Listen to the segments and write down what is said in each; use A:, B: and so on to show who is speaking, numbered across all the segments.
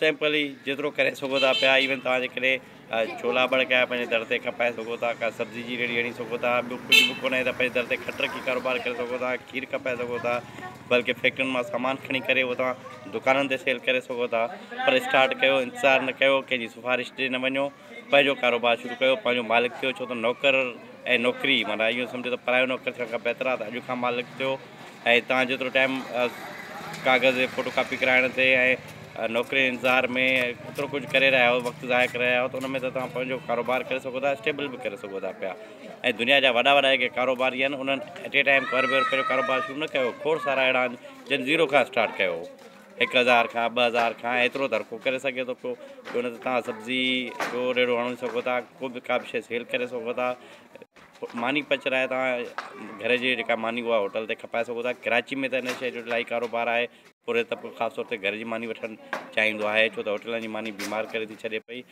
A: Simply جيترو ڪري سگهو ٿا پيا ايون توهان جي ڪري ڇولا ٻڙڪايا پنهنجي در تي کپائي سگهو ٿا ڪا سبزي جي ريڙهي هڻي سگهو ٿا ٻيو ڪجهه به ڪونهي ته پنهنجي در تي کٽ رکي ڪاروبار ڪري سگهو ٿا کير کپائي سگهو ٿا بلڪه فيڪٽرين مان سامان کڻي ڪري اهو توهان دڪانن تي سيل ڪري سگهو ٿا پر اسٽارٽ ڪيو انتظار نه ڪيو ڪنهنجي سفارش ڏي نه وڃو پنهنجو ڪاروبار شروع ڪيو، پنهنجو مالڪ ٿيو، ڇو ته نوڪر ۽ نوڪري معنيٰ اهو سمجهو ته پرايو نوڪر ٿيڻ کان بهتر آهي ته اڄ کان مالڪ ٿيو ۽ توهان جيترو ٽائيم ڪاغذ جي فوٽو ڪاپي ڪرائڻ تي ۽ نوڪري انتظار ۾ ايترو ڪجهه ڪري رهيا آهيو وقت ضايع ڪري رهيا آهيو ته ان ۾ ته توهان پنهنجو ڪاروبار ڪري سگهو ٿا اسٽيبل به ڪري سگهو ٿا پيا ۽ دنيا جا وڏا وڏا جيڪي ڪاروباري آهن انهن ايٽ اي ٽائيم ڪوربيو پنهنجو ڪاروبار شروع نه ڪيو کوڙ سارا اهڙا آهن جن زيرو کان اسٽارٽ ڪيو هڪ هزار کان ٻه هزار کان ايترو ته هر ڪو ڪري سگهي ٿو پيو ڇو نه ته تهان سبزي جو ريڙهو هڻي سگهو ٿا ڪو به ڪا به شيء سيل ڪري سگهو ٿا ماني پچرائي تهان گهر جي جيڪا ماني اها هوٽل تي کپائي سگهو ٿا ڪراچي ۾ ته هن شيء جو الاهي ڪاروبار آهي پورهيت طبقو خاص طور تي گهر جي ماني وٺڻ چاهيندو آهي ڇو ته هوٽلن جي ماني بيمار ڪري ٿي ڇڏي پئي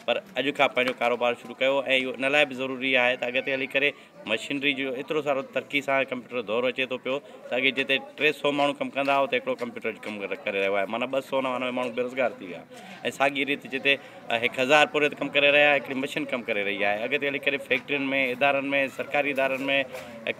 A: پر اڄ کان پنهنجو ڪاروبار شروع ڪيو ۽ اهو ان لاء به ضروري آهي ته اڳتي هلي ڪري مشينري جو ايترو سارو ترقي سان ڪمپيوٽر جو دور اچي ٿو پيو ته اڳي جتي ٽي سو ماڻهو ڪم ڪندا هئا اتي هڪڙو ڪمپيوٽر اڄ ڪم ڪري رهيو آهي معنيٰ ٻه سو نوانوي ماڻهو بيروزگار ٿي ويا ۽ ساڳي ريت جتي هڪ هزار پورهيت ڪم ڪري رهيا هڪڙي مشين ڪم ڪري رهي آهي اڳتي هلي ڪري فيڪٽرين ۾ ادارن ۾ سرڪاري ادارن ۾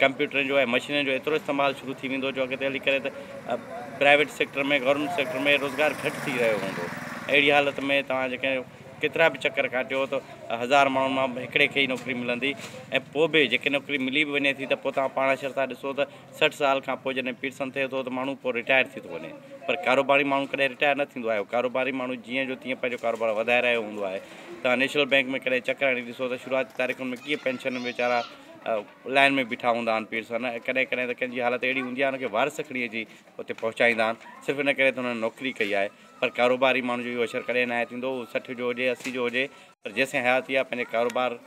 A: ڪمپيوٽرن جو ۽ مشينرين جو ايترو استعمال شروع ٿي ويندو جو اڳتي هلي ڪري ته پرائيويٽ سيڪٽر ۾ گورنمينٽ سيڪٽر ۾ روزگار گهٽ ٿي رهيو هوندو اهڙي حالت ۾ توهان جيڪي ڪيترا به چڪر ڪاٽيو ته هزار ماڻهن مان هڪڙي کي ئي نوڪري ملندي ۽ پوء به جيڪي نوڪري ملي به وڃي ٿي ته پوء توهان پاڻ اشر ٿا ڏسو ته سٺ سال کان پوء جڏهن پيرسن ٿئي ٿو ته ماڻهو پوء رٽائر ٿي ٿو وڃي پر ڪاروباري ماڻهو ڪڏهن رٽائر نه ٿيندو آهي ڪاروباري ماڻهو جيئن جو تيئن پنهنجو ڪاروبار وڌائي رهيو هوندو آهي توهان نيشنل بئنڪ ۾ ڪڏهن چڪر هڻي ڏسو ته شروعاتي تاريخن ۾ ڪيئن پينشنن ويچارا لائن ۾ بيٺا هوندا آهن پير سان ۽ ڪڏهن ڪڏهن ته ڪنهن جي حالت اهڙي هوندي آهي هن کي وارث کڻي اچي اتي پهچائيندا آهن صرف ان ڪري ته هنن نوڪري ڪئي آهي پر ڪاروباري ماڻهو جو اهو اشر ڪڏهن ناهي ٿيندو هو سٺ جو هجي اسي جو هجي پر جيسين حياتي آهي پنهنجي ڪاروبار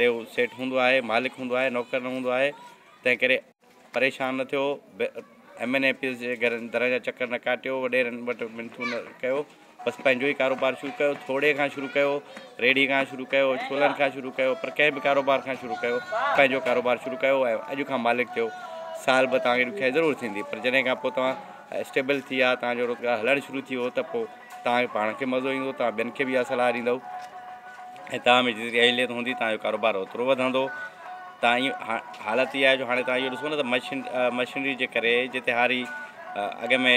A: تي هو سيٽ هوندو آهي مالڪ هوندو آهي نوڪر نه هوندو آهي تنهن ڪري پريشان نه ٿيو، ايم اين اي پيز جي گهرن درن جا چڪر نه ڪاٽيو، وڏيرن وٽ منٿون نه ڪيو، بس پنهنجو ئي ڪاروبار شروع ڪيو، ٿوڙهي کان شروع ڪيو، ريڙهي کان شروع ڪيو، ڇولن کان شروع ڪيو، پر ڪنهن به ڪاروبار کان شروع ڪيو، پنهنجو ڪاروبار شروع ڪيو ۽ اڄ کان مالڪ ٿيو، سال ٻه توهان کي ڏکيائي ضرور ٿيندي، پر جڏهن کان پوء توهان اسٽيبل ٿي ويا، توهان جو روزگار هلڻ شروع ٿي ويو ته پوء. توهان کي پاڻ کي مزو ايندو، توهان ٻين کي به اها صلاح ڏيندؤ ۽ توهان ۾ جيتري اهليت هوندي توهان جو ڪاروبار اوترو وڌندو. توهان حالت اها آهي جو هاڻي توهان اهو ڏسو نه ته مشين مشينري جي ڪري جتي هاري اڳ ۾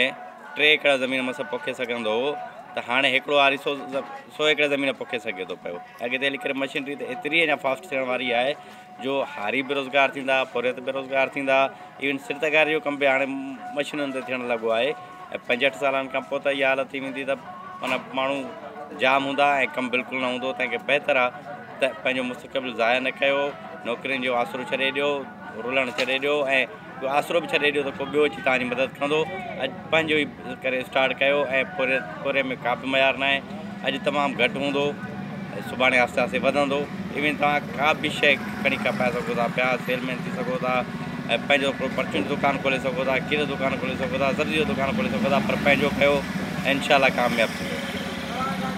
A: ٽي ايڪڙ زمين مس پوکي سگهندو هو ته هاڻي هڪڙو هاري سو سو ايڪڙ زمين پوکي سگهي ٿو پيو. اڳتي هلي ڪري مشينري ته ايتري اڃا فاسٽ ٿيڻ واري آهي جو هاري بيروزگار ٿيندا، پورهيت بيروزگار ٿيندا، ايون سرتڪاري جو ڪم به هاڻي مشينن تي ٿيڻ لڳو آهي ۽ پنجهٺ سالن کان پوء ته اها حالت ٿي ويندي ته معنيٰ ماڻهو جام هوندا ۽ ڪم بلڪل نه هوندو تنهن کي بهتر آهي ته پنهنجو مستقبل ضايع نه ڪيو نوڪرين جو آسرو ڇڏي ڏيو رلڻ ڇڏي ڏيو ۽ جو آسرو به ڇڏي ڏيو ته ڪو ٻيو اچي توهان جي مدد ڪندو. اڄ پنهنجو ئي ڪري اسٽارٽ ڪيو ۽ پوري پوري ۾ ڪا به معيار ناهي. اڄ تمام گهٽ هوندو ۽ سڀاڻي آهستي آهستي وڌندو. ايون توهان ڪا به شيء کڻي کپائي سگهو ٿا پيا، سيل مين ٿي سگهو ٿا ۽ پنهنجو هڪڙو پرچون جو دڪان کولي سگهو ٿا، کير جو دڪان کولي سگهو ٿا، سبزي جو دڪان کولي سگهو ٿا پر پنهنجو ڪيو ۽ انشاء الله ڪامياب ٿيندو.